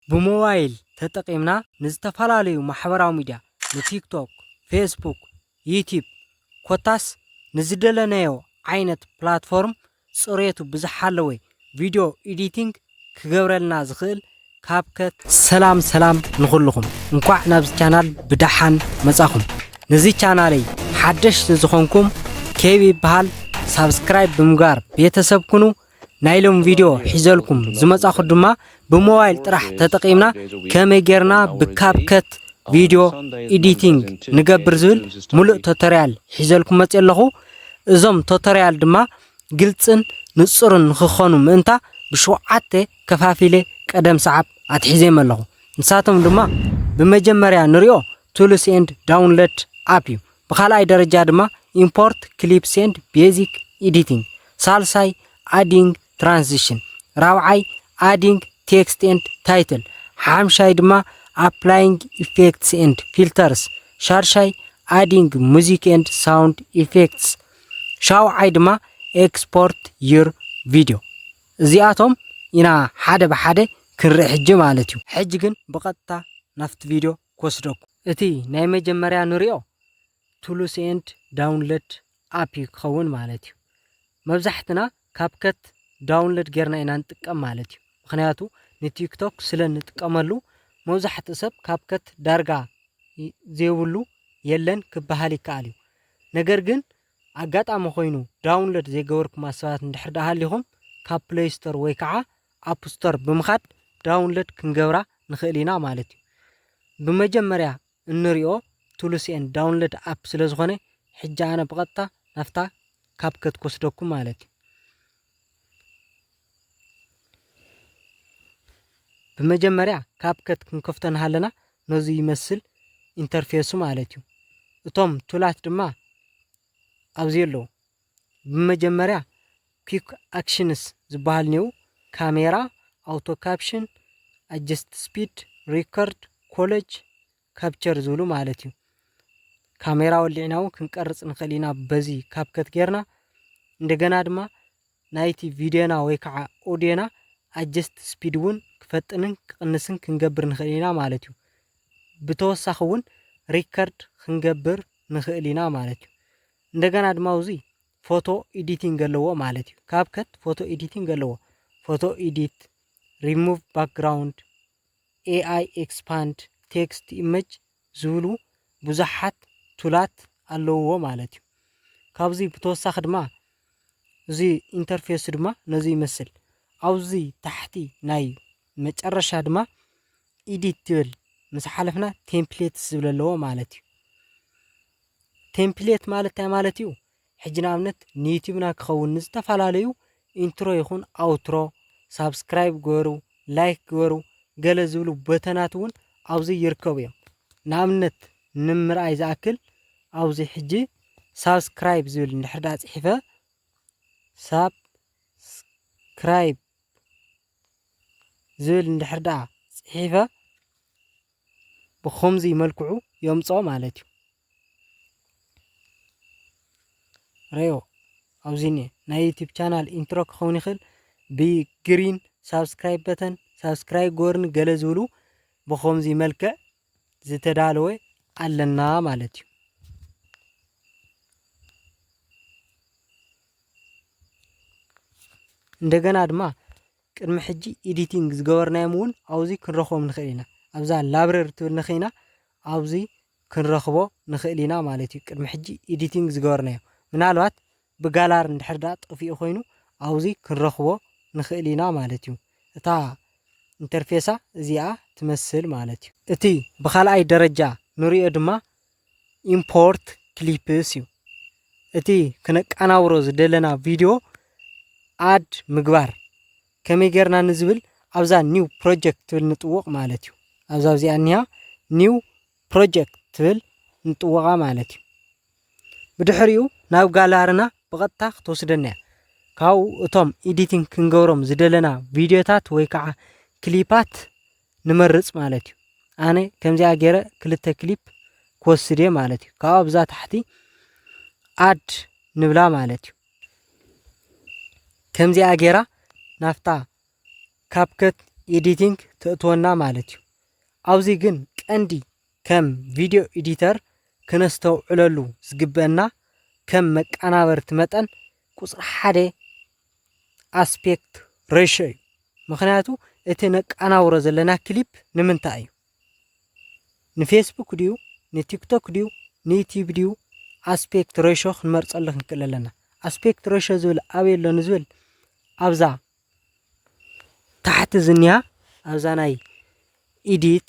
ብሞባይል ተጠቒምና ንዝተፈላለዩ ማሕበራዊ ሚድያ፣ ንቲክቶክ፣ ፌስቡክ፣ ዩትዩብ ኮታስ ንዝደለናዮ ዓይነት ፕላትፎርም ፅሬቱ ብዝሓለወ ቪድዮ ኢዲቲንግ ክገብረልና ዝኽእል ካብከት፣ ሰላም ሰላም ንኹሉኹም እንኳዕ ናብዚ ቻናል ብዳሓን መፃኹም ንዚ ቻናለይ ሓደሽቲ ዝኾንኩም ኬቢ ይበሃል ሳብስክራይብ ብምግባር ቤተሰብ ኩኑ። ናይ ሎም ቪድዮ ሒዘልኩም ዝመጻኹ ድማ ብሞባይል ጥራሕ ተጠቒምና ከመይ ጌርና ብካፕከት ቪድዮ ኤዲቲንግ ንገብር ዝብል ሙሉእ ቶተርያል ሒዘልኩም መጽየ ኣለኹ። እዞም ቶተርያል ድማ ግልጽን ንጹርን ንክኾኑ ምእንታ ብሸውዓተ ከፋፊለ ቀደም ሰዓብ ኣትሒዘዮም ኣለኹ። ንሳቶም ድማ ብመጀመርያ ንሪኦ ቱልስ ኤንድ ዳውንለድ ኣፕ እዩ። ብኻልኣይ ደረጃ ድማ ኢምፖርት ክሊፕስ ኤንድ ቤዚክ ኢዲቲንግ፣ ሳልሳይ ኣዲንግ ትራንዚሽን፣ ራብዓይ ኣዲንግ ቴክስት ኤንድ ታይትል፣ ሓምሻይ ድማ ኣፕላይንግ ኢፌክትስ ኤንድ ፊልተርስ፣ ሻድሻይ ኣዲንግ ሙዚክ ኤንድ ሳውንድ ኢፌክትስ፣ ሻውዓይ ድማ ኤክስፖርት ዩር ቪድዮ። እዚኣቶም ኢና ሓደ ብሓደ ክንርኢ ሕጂ ማለት እዩ። ሕጂ ግን ብቐጥታ ናብቲ ቪድዮ ክወስደኩም። እቲ ናይ መጀመርያ ንሪኦ ቱሉስ ኤንድ ዳውንለድ ኣፕ እዩ ክኸውን ማለት እዩ መብዛሕትና ካብከት ዳውንለድ ጌርና ኢና ንጥቀም ማለት እዩ ምክንያቱ ንቲክቶክ ስለ ንጥቀመሉ መብዛሕትኡ ሰብ ካብከት ዳርጋ ዘይብሉ የለን ክበሃል ይከኣል እዩ ነገር ግን ኣጋጣሚ ኮይኑ ዳውንለድ ዘይገበርኩማ ሰባት እንድሕር ደኣ ሃሊኹም ካብ ፕለይስቶር ወይ ከዓ ኣፕ ስቶር ብምኻድ ዳውንሎድ ክንገብራ ንኽእል ኢና ማለት እዩ። ብመጀመርያ እንሪኦ ቱልስ ኤንድ ዳውንሎድ ኣፕ ስለ ዝኾነ ሕጂ ኣነ ብቐጥታ ናብታ ካብከት ክወስደኩም ማለት እዩ። ብመጀመርያ ካብከት ክንከፍቶ ንሃለና ነዚ ይመስል ኢንተርፌሱ ማለት እዩ። እቶም ቱላት ድማ ኣብዚ ኣለዉ። ብመጀመርያ ኲክ ኣክሽንስ ዝበሃል ኔው ካሜራ፣ ኣውቶ ካፕሽን፣ ኣጀስት ስፒድ፣ ሪከርድ፣ ኮለጅ፣ ካፕቸር ዝብሉ ማለት እዩ። ካሜራ ወሊዕና እውን ክንቀርፅ ንኽእል ኢና በዚ ካብከት ጌርና እንደገና ድማ ናይቲ ቪድዮና ወይ ከዓ ኦድዮና ኣጀስት ስፒድ እውን ክፈጥንን ክቕንስን ክንገብር ንኽእል ኢና ማለት እዩ። ብተወሳኺ እውን ሪከርድ ክንገብር ንኽእል ኢና ማለት እዩ። እንደገና ድማ ኣብዚ ፎቶ ኢዲቲንግ ኣለዎ ማለት እዩ። ካብከት ፎቶ ኤዲቲንግ ኣለዎ። ፎቶ ኢዲት፣ ሪሙቭ ባክግራውንድ፣ ኤኣይ ኤክስፓንድ፣ ቴክስት ኢመጅ ዝብሉ ብዙሓት ቱላት ኣለውዎ ማለት እዩ። ካብዚ ብተወሳኺ ድማ እዚ ኢንተርፌሱ ድማ ነዚ ይመስል። ኣብዚ ታሕቲ ናይ መጨረሻ ድማ ኢዲት ትብል ምስ ሓለፍና ቴምፕሌትስ ዝብል ኣለዎ ማለት እዩ። ቴምፕሌት ማለት እንታይ ማለት እዩ? ሕጂ ንኣብነት ንዩቲብና ክኸውን ንዝተፈላለዩ ኢንትሮ ይኹን ኣውትሮ ሳብስክራይብ ግበሩ፣ ላይክ ግበሩ ገለ ዝብሉ በተናት እውን ኣብዚ ይርከቡ እዮም። ንኣብነት ንምርኣይ ዝኣክል ኣብዚ ሕጂ ሳብስክራይብ ዝብል እንድሕር ዳ ፅሒፈ ሳብስክራይብ ዝብል እንድሕር ደኣ ጽሒፈ ብኸምዚ መልክዑ የምጽኦ ማለት እዩ። ረዮ ኣብዚ እኒኤ ናይ ዩቲብ ቻናል ኢንትሮ ክኸውን ይኽእል ብግሪን ሳብስክራይብ በተን ሳብስክራይብ ጎርን ገለ ዝብሉ ብኸምዚ መልክዕ ዝተዳለወ ኣለና ማለት እዩ። እንደገና ድማ ቅድሚ ሕጂ ኤዲቲንግ ዝገበርናዮም እውን ኣብዚ ክንረኽቦም ንኽእል ኢና ኣብዛ ላብረሪ ትብል ንኽኢና ኣብዚ ክንረኽቦ ንኽእል ኢና ማለት እዩ ቅድሚ ሕጂ ኤዲቲንግ ዝገበርናዮ ምናልባት ብጋላር እንድሕር ድኣ ጠፊኡ ኮይኑ ኣብዙይ ክንረኽቦ ንኽእል ኢና ማለት እዩ። እታ ኢንተርፌሳ እዚኣ ትመስል ማለት እዩ። እቲ ብኻልኣይ ደረጃ ንሪኦ ድማ ኢምፖርት ክሊፕስ እዩ። እቲ ክነቃናብሮ ዝደለና ቪድዮ ኣድ ምግባር ከመይ ጌርና ንዝብል ኣብዛ ኒው ፕሮጀክት ትብል ንጥውቕ ማለት እዩ። ኣብዛ ኣብዚኣ እኒሃ ኒው ፕሮጀክት ትብል ንጥውቓ ማለት እዩ። ብድሕሪኡ ናብ ጋላርና ብቐጥታ ክትወስደና እያ። ካብኡ እቶም ኤዲቲንግ ክንገብሮም ዝደለና ቪድዮታት ወይ ከዓ ክሊፓት ንመርፅ ማለት እዩ። ኣነ ከምዚኣ ገይረ ክልተ ክሊፕ ክወስድ እየ ማለት እዩ። ካብኡ ኣብዛ ታሕቲ ኣድ ንብላ ማለት እዩ። ከምዚኣ ገይራ ናፍታ ካፕከት ኤዲቲንግ ተእትወና ማለት እዩ። ኣብዚ ግን ቀንዲ ከም ቪድዮ ኤዲተር ክነስተውዕለሉ ዝግበእና ከም መቃናበርቲ መጠን ቁጽሪ ሓደ ኣስፔክት ረሾ እዩ። ምክንያቱ እቲ ነቃናብሮ ዘለና ክሊፕ ንምንታይ እዩ ንፌስቡክ ድዩ ንቲክቶክ ድዩ ንዩቲብ ድዩ ኣስፔክት ረሾ ክንመርጸሉ ክንክእል ኣለና። ኣስፔክት ረሾ ዝብል ኣበይ ኣሎ ንዝብል ኣብዛ ታሕቲ ዝኒኣ ኣብዛ ናይ ኢዲት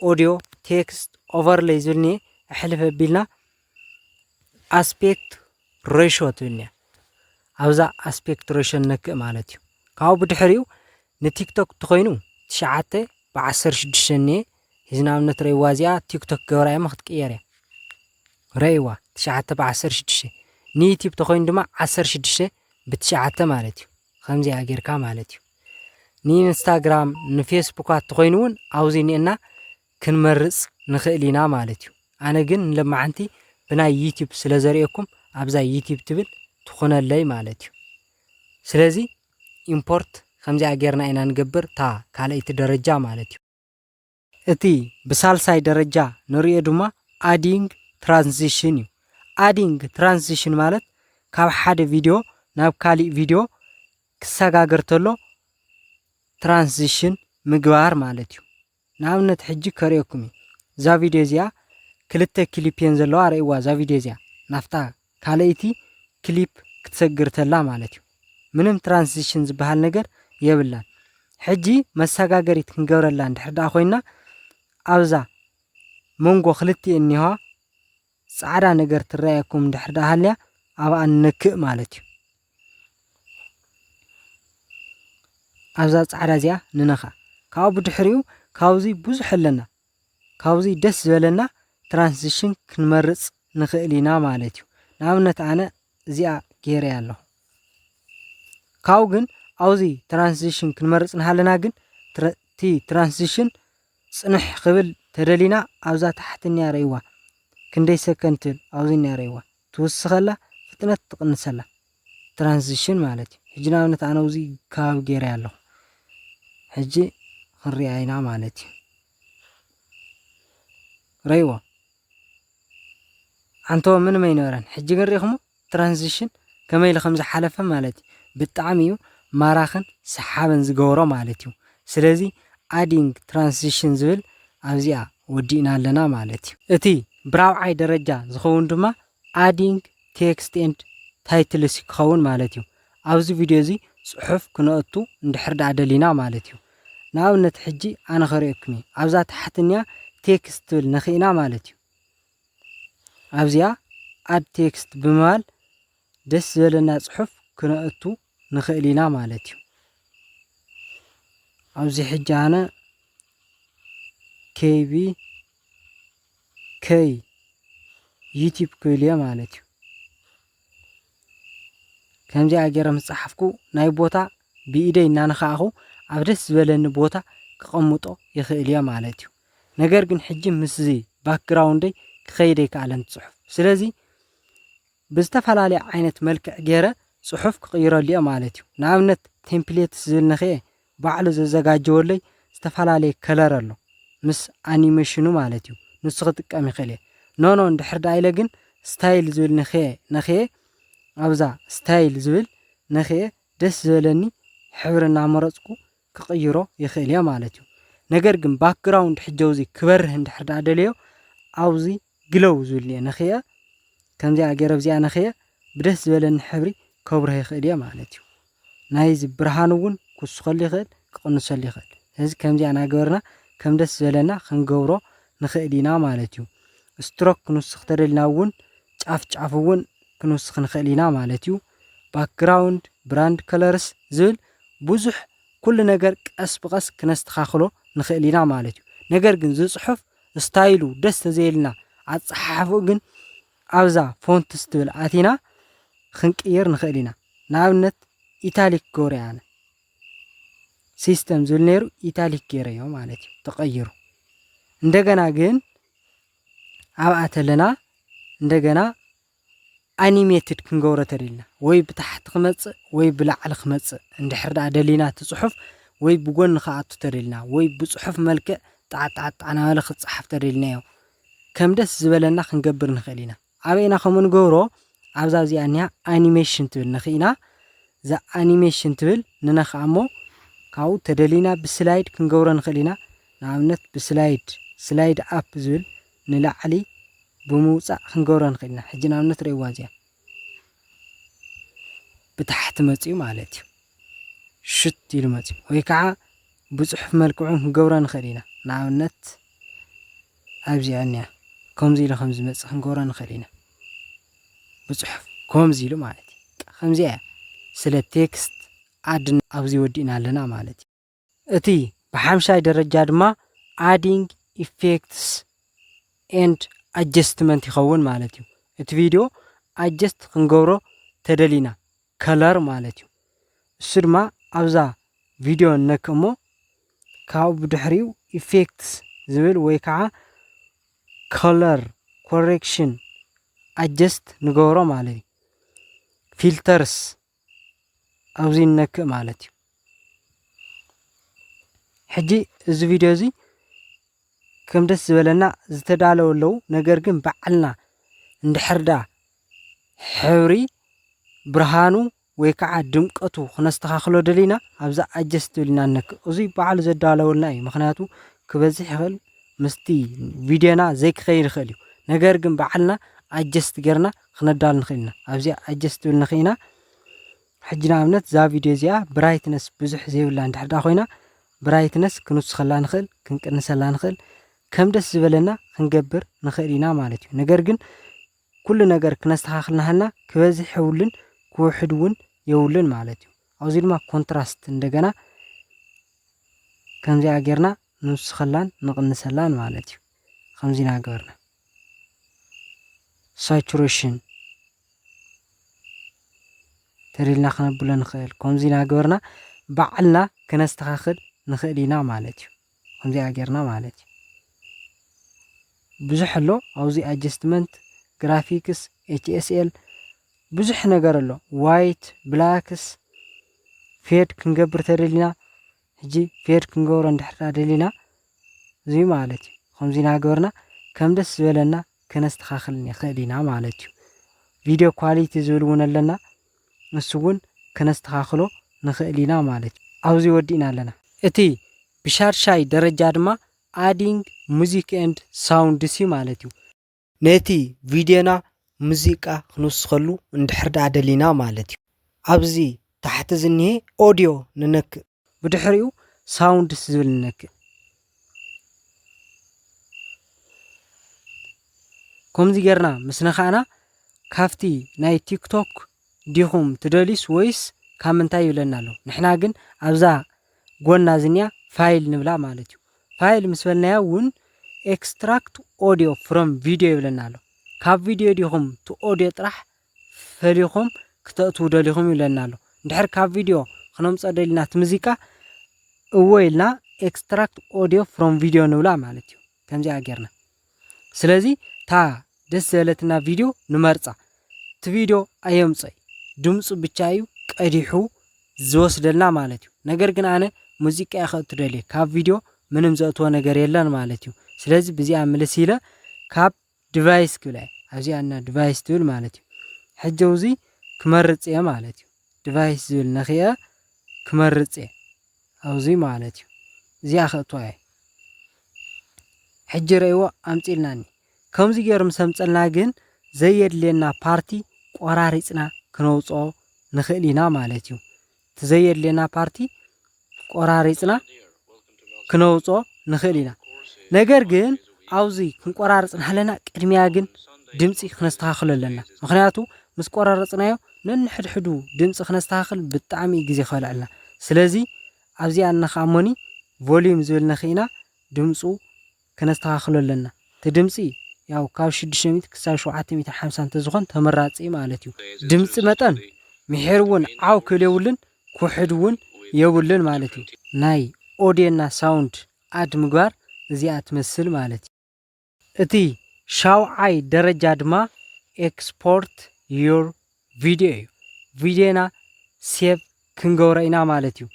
ኦዲዮ ቴክስት ኦቨርለይ ዝብል እኒአ ኣሕልፍ ኣቢልና ኣስፔክት ሬሾ ትብል እኒኣ ኣብዛ ኣስፔክት ሬሾ ነክእ ማለት እዩ ካብኡ ብድሕሪኡ ንቲክቶክ እንተኾይኑ ትሽዓተ ብዓሰርተ ሽዱሽተ እኒአ እዚ ንኣብነት ረይዋ እዚኣ ቲክቶክ ገብራ እየ ክትቅየር እያ ረይዋ ትሽዓተ ብዓሰርተ ሽዱሽተ ንዩቲብ ተኾይኑ ድማ ዓሰርተ ሽዱሽተ ብትሽዓተ ማለት እዩ ከምዚኣ ጌርካ ማለት እዩ ንኢንስታግራም ንፌስቡካት ተኾይኑውን ኣውዚ ኒኤና ክንመርጽ ንኽእል ኢና ማለት እዩ ኣነ ግን ንለማዓንቲ ብናይ ዩቲብ ስለ ዘርእየኩም ኣብዛ ዩቲብ ትብል ትኹነለይ ማለት እዩ ስለዚ ኢምፖርት ከምዚኣ ጌርና ኢና ንገብር እታ ካልኣይቲ ደረጃ ማለት እዩ። እቲ ብሳልሳይ ደረጃ ንሪኦ ድማ ኣዲንግ ትራንዚሽን እዩ። ኣዲንግ ትራንዚሽን ማለት ካብ ሓደ ቪድዮ ናብ ካሊእ ቪድዮ ክሰጋገር ተሎ ትራንዚሽን ምግባር ማለት እዩ። ንኣብነት ሕጂ ከርእየኩም እዩ። እዛ ቪድዮ እዚኣ ክልተ ክሊፕ እየን ዘለዋ ርእይዋ እዛ ቪድዮ እዚኣ ናፍታ ካልኣይቲ ክሊፕ ክትሰግር ተላ ማለት እዩ ምንም ትራንስዚሽን ዝበሃል ነገር የብላን ሕጂ መሳጋገሪት ክንገብረላ እንድሕር ደኣ ኮይና ኣብዛ መንጎ ክልቲኤን እኒሆዋ ጻዕዳ ነገር ትረኣየኩም እንድሕር ደኣ ሃልያ ኣብኣ ንነክእ ማለት እዩ ኣብዛ ጻዕዳ እዚኣ ንነኻ ካብኡ ብድሕሪኡ ካብዚ ብዙሕ ኣለና ካብዙይ ደስ ዝበለና ትራንስሽን ክንመርፅ ንኽእል ኢና ማለት እዩ ንኣብነት ኣነ እዚኣ ገይረ ኣለኹ ካብኡ ግን ኣብዚ ትራንስሽን ክንመርፅ ንሃለና ግን እቲ ትራንስሽን ፅንሕ ክብል ተደሊና ኣብዛ ታሕቲ እኒኣ ረይዋ ክንደይ ሰከንድ ትብል ኣብዚ እኒኣ ረይዋ ትውስኸላ ፍጥነት ትቕንሰላ ትራንዚሽን ማለት እዩ ሕጂ ንኣብነት ኣነ ውዚ ከባቢ ገይረያ ኣለኹ ሕጂ ክንሪኣ ኢና ማለት እዩ ረይዎ ዓንተቦ ምንም ኣይነበረን ሕጂ ግን ሪኢኹሞ ትራንዚሽን ከመይ ኢሉ ከም ዝሓለፈ ማለት እዩ ብጣዕሚ እዩ ማራኽን ሰሓብን ዝገብሮ ማለት እዩ ስለዚ ኣዲንግ ትራንዚሽን ዝብል ኣብዚኣ ወዲእና ኣለና ማለት እዩ እቲ ብራብዓይ ደረጃ ዝኸውን ድማ ኣዲንግ ቴክስት ኤንድ ታይትልስ ክኸውን ማለት እዩ። ኣብዚ ቪድዮ እዚ ጽሑፍ ክነእቱ እንድሕር ደኣ ደሊና ማለት እዩ። ንኣብነት ሕጂ ኣነ ከርእየኩም እዩ። ኣብዛ ታሕቲ እኒኣ ቴክስት ትብል ነኺእና ማለት እዩ። ኣብዚኣ ኣድ ቴክስት ብምባል ደስ ዝበለና ጽሑፍ ክነእቱ ንኽእል ኢና ማለት እዩ። ኣብዚ ሕጂ ኣነ ኬቢ ከይ ዩቲብ ክብልዮ ማለት እዩ ከምዚኣ ገይረ ምስ ጸሓፍኩ ናይ ቦታ ብኢደይ እናነካእኹ ኣብ ደስ ዝበለኒ ቦታ ክቐምጦ ይኽእል እየ ማለት እዩ ነገር ግን ሕጂ ምስዚ ባክግራውንደይ ክኸይደ ይከኣለን ጽሑፍ ስለዚ ብዝተፈላለየ ዓይነት መልክዕ ገይረ ጽሑፍ ክቕይረሉ እየ ማለት እዩ ንኣብነት ቴምፕሌትስ ዝብል ነኽየ ባዕሉ ዘዘጋጀወለይ ዝተፈላለየ ከለር ኣሎ ምስ ኣኒመሽኑ ማለት እዩ ንሱ ክጥቀም ይክእል እየ ኖኖ እንድሕር ደኣ ኢለ ግን ስታይል ዝብል ነክየ ነክየ ኣብዛ ስታይል ዝብል ነክየ ደስ ዝበለኒ ሕብሪ እናመረፅኩ ክቅይሮ ይክእል እየ ማለት እዩ ነገር ግን ባክግራውንድ ሕጀውዚ ክበርህ እንድሕር ደኣ ደልዮ ኣብዚ ግለው ዝብል እየ ነክየ ከምዚኣ ገይረ ኣብዚኣ ነክየ ብደስ ዝበለኒ ሕብሪ ከብርሆ ይክእል እየ ማለት እዩ ናይዚ ብርሃኑ ውን ክውስኸሉ ይኽእል ክቕንሰሉ ይኽእል ስለዚ ከምዚ ኣናገበርና ከም ደስ ዝበለና ክንገብሮ ንኽእል ኢና ማለት ዩ ስትሮክ ክንውስኽ ተደልና ውን ጫፍ ጫፉ ውን ክንውስኽ ንኽእል ኢና ማለት ዩ ባክግራውንድ ብራንድ ከለርስ ዝብል ብዙሕ ኩሉ ነገር ቀስ ብቐስ ክነስተኻኽሎ ንኽእል ኢና ማለት ዩ ነገር ግን ዝፅሑፍ ስታይሉ ደስ ተዘይልና ኣፀሓሕፍኡ ግን ኣብዛ ፎንትስ ትብል ኣቲና ኽንቅይር ንኽእል ኢና ንኣብነት ኢታሊክ ክገብሮ ኣነ ሲስተም ዝብል ነይሩ ኢታሊክ ገይረዮ ማለት እዩ ተቐይሩ እንደገና ግን ኣብኣ ተለና እንደገና ኣኒሜትድ ክንገብሮ ተደልና ወይ ብታሕቲ ክመጽእ ወይ ብላዕሊ ክመጽእ እንድሕር ደኣ ደሊና እቲ ጽሑፍ ወይ ብጎኒ ክኣቱ ተደልና ወይ ብጽሑፍ መልክዕ ጣዕጣዕጣዕ ናበለ ክጸሓፍ ተደልናዮ ከም ደስ ዝበለና ክንገብር ንክእል ኢና ኣበይ ኢና ከምኡ ንገብሮ ኣብዛ ኣብዚኣ እኒኣ ኣኒሜሽን ትብል ነክኢና እዛ ኣኒሜሽን ትብል ንነክኣ እሞ ካብኡ ተደሊና ብስላይድ ክንገብሮ ንክእል ኢና ንኣብነት ብስላይድ ስላይድ ኣፕ ዝብል ንላዕሊ ብምውፃእ ክንገብሮ ንክእል ኢና ሕጂ ንኣብነት ርእይዋ እዚኣ ብታሕቲ መጺኡ ማለት እዩ ሽት ኢሉ መጺኡ ወይ ከዓ ብጽሑፍ መልክዑ ክንገብሮ ንኽእል ኢና ንኣብነት ኣብዚ ዕንያ ከምዚ ኢሉ ከም ዝመጽእ ክንገብሮ ንኽእል ኢና ብጽሑፍ ከምዚ ኢሉ ማለት እዩ ከምዚኣ እያ ስለ ቴክስት ኣድ ኣብዚ ወዲእና ኣለና ማለት እዩ እቲ ብሓምሻይ ደረጃ ድማ Adding Effects and Adjustment ይኸውን ማለት እዩ። እቲ ቪድዮ ኣጀስት ክንገብሮ ተደሊና ከለር ማለት እዩ። እሱ ድማ ኣብዛ ቪድዮ ነክ እሞ ካብኡ ብድሕሪኡ ኢፌክትስ ዝብል ወይ ከዓ ከለር ኮሬክሽን ኣጀስት ንገብሮ ማለት እዩ። ፊልተርስ ኣብዚ ንነክእ ማለት እዩ ሕጂ እዚ ቪድዮ እዚ ከም ደስ ዝበለና ዝተዳለወ ኣለዉ ነገር ግን በዓልና እንድሕርዳ ሕብሪ ብርሃኑ ወይ ከዓ ድምቀቱ ክነስተኻኽሎ ደሊና ኣብዛ ኣጀስት ኢልና ንነክእ እዙይ በዓሉ ዘዳለወልና እዩ ምክንያቱ ክበዝሕ ይኽእል ምስቲ ቪድዮና ዘይክኸይድ ይኽእል እዩ ነገር ግን በዓልና ኣጀስት ገርና ክነዳሉ ንክእል ኢና ኣብዚኣ ኣጀስ ትብል ንክኢና ሕጂ ንኣብነት እዛ ቪድዮ እዚኣ ብራይትነስ ብዙሕ ዘይብላ እንድሕር ዳ ኮይና ብራይትነስ ክንውስኸላ ንኽእል ክንቅንሰላ ንኽእል ከም ደስ ዝበለና ክንገብር ንኽእል ኢና ማለት እዩ ነገር ግን ኩሉ ነገር ክነስተኻኽል ናሃልና ክበዝሕ የብሉን ክውሕድ እውን የብሉን ማለት እዩ ኣብዚ ድማ ኮንትራስት እንደገና ከምዚኣ ጌርና ንውስኸላን ንቕንሰላን ማለት እዩ ከምዚ ኢና ገበርና ሳቹሬሽን ተሪልና ክነብሎ ንኽእል ከምዚ ኢና ገበርና ባዕልና ክነስተኻኽል ንኽእል ኢና ማለት እዩ ከምዚኣ ጌርና ማለት እዩ ብዙሕ ኣሎ ኣብዚ ኣጀስትመንት ግራፊክስ ኤችኤስኤል ብዙሕ ነገር ኣሎ ዋይት ብላክስ ፌድ ክንገብር ተደሊና ሕጂ ፌድ ክንገብሮ እንድሕር ደሊና እዙይ ማለት እዩ። ኸምዙይ ናገበርና ከም ደስ ዝበለና ከነስተኻኽል ንኽእል ኢና ማለት እዩ። ቪድዮ ኳሊቲ ዝብል እውን ኣለና ንሱ እውን ከነስተኻኽሎ ንኽእል ኢና ማለት እዩ። ኣብዙይ ወዲእና ኣለና። እቲ ብሻድሻይ ደረጃ ድማ ኣዲንግ ሙዚክ ኤንድ ሳውንድስ እዩ ማለት እዩ። ነቲ ቪድዮና ሙዚቃ ክንውስኸሉ እንድሕር ደኣ ደሊና ማለት እዩ። ኣብዚ ታሕቲ ዝኒሀ ኦድዮ ንነክእ። ብድሕሪኡ ሳውንድስ ዝብል ንነክእ። ከምዚ ጌርና ምስ ነካእና ካብቲ ናይ ቲክቶክ ዲኹም ትደልዩስ ወይስ ካብ ምንታይ ይብለና ኣሎ። ንሕና ግን ኣብዛ ጎና ዝኒኣ ፋይል ንብላ ማለት እዩ። ፋይል ምስ በልናያ እውን ኤክስትራክት ኦዲዮ ፍሮም ቪዲዮ ይብለና ኣሎ። ካብ ቪዲዮ ዲኹም እቲ ኦዲዮ ጥራሕ ፈሊኹም ክተእትዉ ደሊኹም ይብለና ኣሎ። እንድሕር ካብ ቪዲዮ ክነምፀ ደሊና እቲ ሙዚቃ እወ ኢልና ኤክስትራክት ኦዲዮ ፍሮም ቪዲዮ ንብላ ማለት እዩ። ከምዚኣ ጌርና ስለዚ እታ ደስ ዝበለትና ቪድዮ ንመርጻ። እቲ ቪድዮ ኣየምጾይ ድምጹ ብቻ እዩ ቀዲሑ ዝወስደልና ማለት እዩ። ነገር ግን ኣነ ሙዚቃ ከእቱ ደልየ ካብ ቪድዮ ምንም ዘእትዎ ነገር የለን ማለት እዩ። ስለዚ ብዚኣ ምልስ ኢለ ካብ ዲቫይስ ክብላ እየ ኣብዚኣ እና ዲቫይስ ትብል ማለት እዩ። ሕጂ ኣብዚ ክመርጽ እየ ማለት እዩ። ዲቫይስ ዝብል ነኺአ ክመርጽ እየ ኣብዚ ማለት እዩ። እዚኣ ከእትዋ እየ። ሕጂ ረእይዎ ኣምጽእልናኒ ከምዚ ጌሩ ምስ ኣምጸልና ግን ዘየድልየና ፓርቲ ቆራሪጽና ክነውጽኦ ንኽእል ኢና ማለት እዩ እቲ ዘየድልየና ፓርቲ ቆራሪጽና ክነውጽኦ ንኽእል ኢና ነገር ግን ኣብዚ ክንቆራርጽ ናሃለና ቅድሚያ ግን ድምፂ ክነስተኻኽሎ ኣለና ምክንያቱ ምስ ቆራረጽናዮ ነንሕድሕዱ ድምፂ ክነስተኻኽል ብጣዕሚ ግዜ ከልዕልና ስለዚ ኣብዚኣ ኣና ከኣ እሞኒ ቮልዩም ዝብል ነኪእና ድምጹ ከነስተካክሎ ኣለና እቲ ድምጺ ያው ካብ ሽዱሽተ ሚእቲ ክሳብ ሸውዓተ ሚእትን ሓምሳን ተዝኮን ተመራጺ እዩ ማለት እዩ ድምጺ መጠን ሚሒር ውን ዓው ክብል የብሉን ክውሕድ ውን የብሉን ማለት እዩ ናይ ኦድዮና ሳውንድ ኣድ ምግባር እዚኣ ትመስል ማለት እዩ። እቲ ሻውዓይ ደረጃ ድማ Export your video እዩ ቪድዮና ሴቭ ክንገብሮ ኢና ማለት እዩ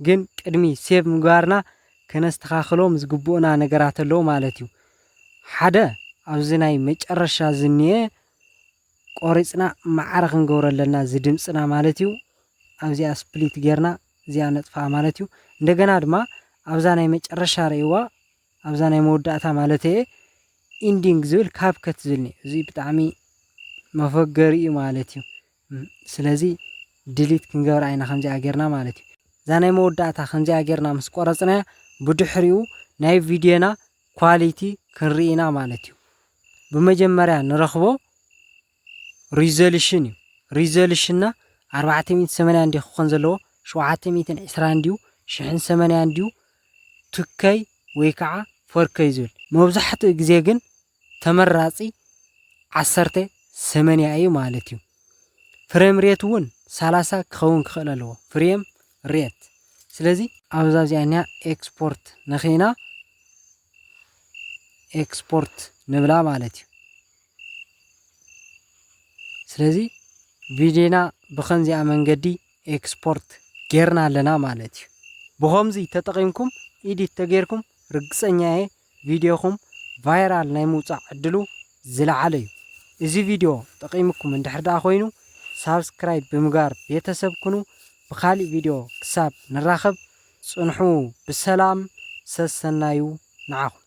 ግን ቅድሚ ሴቭ ምግባርና ከነስተኻኽሎም ዝግብኡና ነገራት ኣለዉ ማለት እዩ ሓደ ኣብዚ ናይ መጨረሻ ዝኒኤ ቆሪጽና ማዕረ ክንገብሮ ኣለና እዚ ድምጽና ማለት እዩ ኣብዚኣ ስፕሊት ጌርና እዚኣ ነጥፍኣ ማለት እዩ እንደገና ድማ ኣብዛ ናይ መጨረሻ ርእይዋ ኣብዛ ናይ መወዳእታ ማለተየ ኢንዲንግ ዝብል ካብከት ዝብል እኒኦ እዚ ብጣዕሚ መፎገሪ እዩ ማለት እዩ ስለዚ ድሊት ክንገብራ ኢና ከምዚኣ ጌርና ማለት እዩ እዛ ናይ መወዳእታ ከምዚኣ ጌርና ምስ ቆረጽናያ ብድሕሪኡ ናይ ቪድዮና ኳሊቲ ክንርኢ ኢና ማለት እዩ ብመጀመርያ ንረኽቦ ሪዞሉሽን እዩ ሪዞሉሽንና ኣርባዕተ ሚእትን ሰማንያን ድዩ ክኾን ዘለዎ ሸውዓተ ሚእትን ዕስራን ድዩ ሽሕን ሰማንያን ድዩ ትከይ ወይ ከዓ ፎርከይ ዝብል መብዛሕትኡ ግዜ ግን ተመራፂ ዓሰርተ ሰመንያ እዩ ማለት እዩ ፍሬም ሬት እውን ሰላሳ ክኸውን ክኽእል ኣለዎ ፍሬም ሬት ስለዚ ኣብዛ እዚኣ እኒኣ ኤክስፖርት ንኺና ኤክስፖርት ንብላ ማለት እዩ ስለዚ ቪድዮና ብኸምዚኣ መንገዲ ኤክስፖርት ጌርና ኣለና ማለት እዩ። ብኸምዚ ተጠቒምኩም ኢዲት ተጌርኩም ርግጸኛ እየ ቪድዮኹም ቫይራል ናይ ምውጻእ ዕድሉ ዝለዓለ እዩ። እዚ ቪድዮ ጠቒሙኩም እንድሕር ደኣ ኮይኑ ሳብስክራይብ ብምግባር ቤተሰብ ኩኑ። ብካሊእ ቪድዮ ክሳብ ንራኸብ ጽንሑ ብሰላም ሰሰናዩ ንዓኹም።